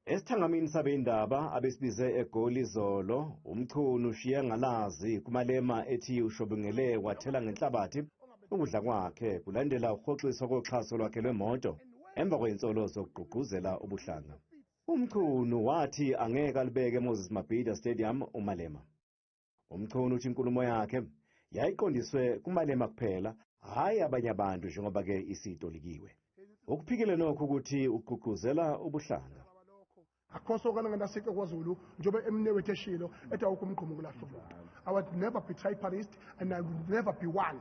Esithangamini sabeyindaba abesibize eGoli izolo, uMchunu ushiye ngalazi kuMalema ethi ushobingele wathela ngenhlabathi ukudla kwakhe kulandela ukuhoxiswa koxhaso lwakhe lwemoto emva kwey'nsolo zokugqugquzela ubuhlanga. UMchunu wathi angeke alibeke eMoses Mabhida Stadium uMalema. UMchunu uthi inkulumo yakhe yayiqondiswe kuMalema kuphela, hhayi abanye abantu njengoba ke isitolikiwe. Ukuphikile nokho ukuthi ugqugquzela ubuhlanga. Akhoso kana ngana sike kwaZulu njobe emnewethu eshilo ethi awukho umgqomo kulahlomntu. I would never betray Paris and I would never be one.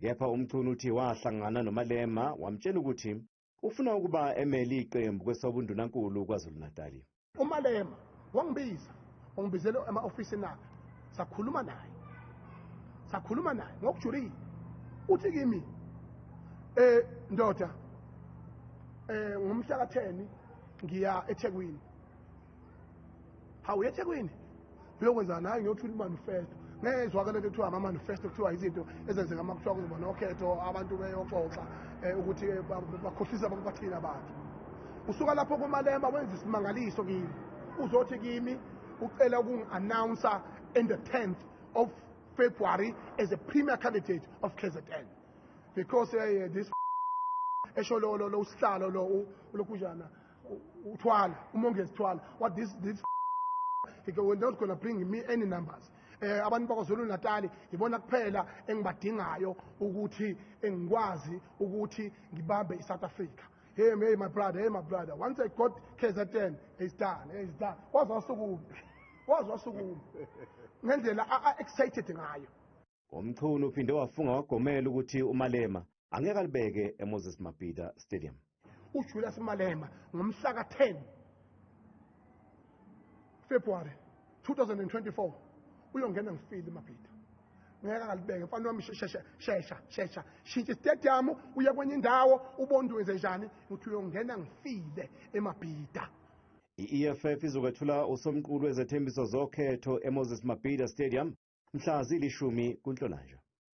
Kepha uMchunu uthi wahlangana noMalema wamtshela ukuthi ufuna ukuba emele iqembu kwesobundunankulu KwaZulu-Natali. UMalema wangibiza, wangibizela ema-ofisini akhe, sakhuluma naye. Sakhuluma naye ngokujulile. Uthi kimi, eh ndoda, eh ngomhla ka-10 ngiya eThekwini. hawu ethekwini uyokwenza nayo ngiyothula imanifesto ngeke izwakale into kuthiwa ama-manifesto kuthiwa izinto ezenzeka uma kuthiwa kuzoba nokhetho abantu beyoxoxa um ukuthi eh, bakhohlisa abantu bathina abantu usuka lapho komalema wenza isimangaliso kimi uzothi kimi ucela ukungi-announcer in the 10th of february as a premier candidate of kzn because uh, this esho lo lo lo usihlalo lo lokujana uthwala umongezi thwala what this this we're not gonna bring me any numbers eh abantu bakwazulu natali yibona kuphela engibadingayo ukuthi engikwazi ukuthi ngibambe isouth africa hey hey my brother hey my brother once i got kzn it's done hey, it's done wazwasukuphi wazwasukuphi ngendlela a-excited ngayo UMchunu uphinde wafunga wagomela ukuthi uMalema angeke alibeke eMoses Mabhida Stadium. UJulius Malema ngomhla ka-10 February 2024 uyongena ngifile Mabhida. ngeke akalibeke mfana wami shesha shesha shesha shintsha istadium uye kwenye indawo ubondwenze njani ukuthi uyongena ngifile emabhida I-EFF izokwethula usomqulu wezethembiso zokhetho eMoses Mabhida Stadium mhla zilishumi kuNhlolanja.